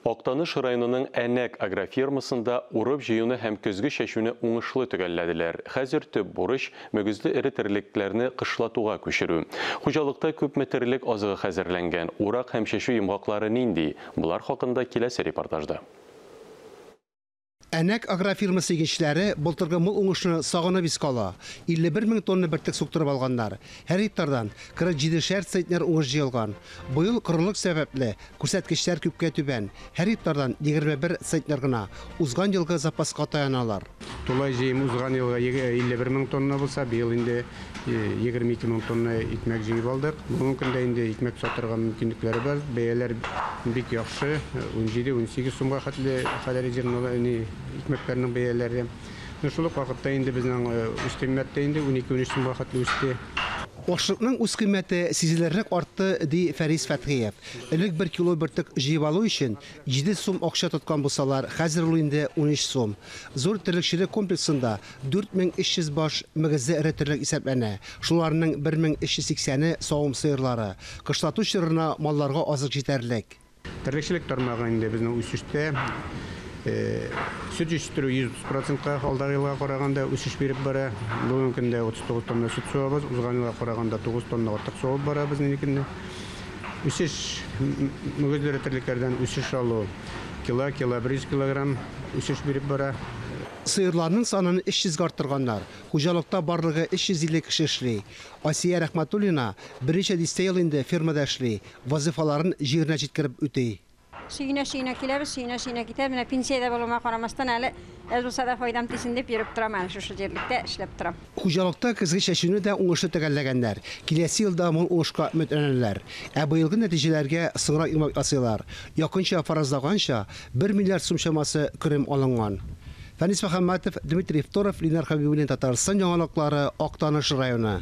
Актаныш районының Әнәк агрофирмасында урып-җыюны һәм көзге чәчүне уңышлы төгәлләделәр. Хәзер төп бурыч, мөгезле эре терлекләрне кышлатуга күчерү. Хуҗалыкта күпме терлек азыгы хәзерләнгән, урак һәм чәчү йомгаклары нинди? Болар хакында киләсе репортажда. Әнәк агрофирмасы игенчеләре былтыргы мул уңышны сагынып искә ала. 51 мең тонна бөртек суктырып алганнар. Һәр гектардан 47 шәр центнер уңыш җыелган. Быел корылык сәбәпле, күрсәткечләр күпкә түбән, һәр гектардан 21 центнер гына. Узган елгы запаска таяналар. Тулай җыем узган елгы 51 мең тонна булса, быел инде 22 мең тонна икмәк җыеп алдык. Бүгенге көндә инде икмәк сатырга мөмкинлекләре бар. Бәяләр бик яхшы, 17-18 сумга хәтле хәләл зернолы әни икмәкләренең бәяләре. Шул ук вакытта инде безнең үз кыйммәт тә инде 12-13 сумга хәтле үсте. Ашлыкның үз кыйммәте сизелерлек артты, ди Фәрис Фәтхиев. Элек бер кило бөртек җыеп алу өчен 7 сум акча тоткан булсалар, хәзер ул инде 13 сум. Зур терлекчелек комплексында 4300 баш мөгезле эретерлек исәпләнә, шуларның 1380-е, савым сыерлары. Кышлату чорына малларга азык җитәрлек. Терлекчелек тармагы инде безнең үсештә, сөт җитештерү 130 процентка алдагы елга караганда үсеш биреп бара. Бүгенге көндә 39 тонна сөт суабыз, узган елга караганда 9 тонна артык суабып барабыз нинди көнне. Үсеш, мөгезле эретерлекләрдән үсеш алу, кило, кило 100 килограмм үсеш биреп бара. Сыерларның санын 300 гә арттырганнар. Хуҗалыкта барлыгы 350 кеше эшли. Асия Рәхмәтуллина берничә дистә ел инде фермада эшли, вазыйфаларын җиренә җиткереп үти. Сөенә-сөенә киләбез, сөенә-сөенә китәбез. Менә пенсиядә булуыма карамастан, әле әз булса да файдам тисен дип йөреп торам әле, шушы җирлектә эшләп торам. Хуҗалыкта көзге чәчүне дә уңышлы төгәлләгәннәр. Киләсе елда мул уңышка өметләнәләр. Ә быелгы нәтиҗәләргә соңрак йомгак ясыйлар. Якынча фаразлаганча, бер миллиард сум чамасы керем алынган. Фәнис Мөхәммәтов, Дмитрий Второв, Ленар Хәбибуллин Татарстан яңалыклары, Актаныш районы.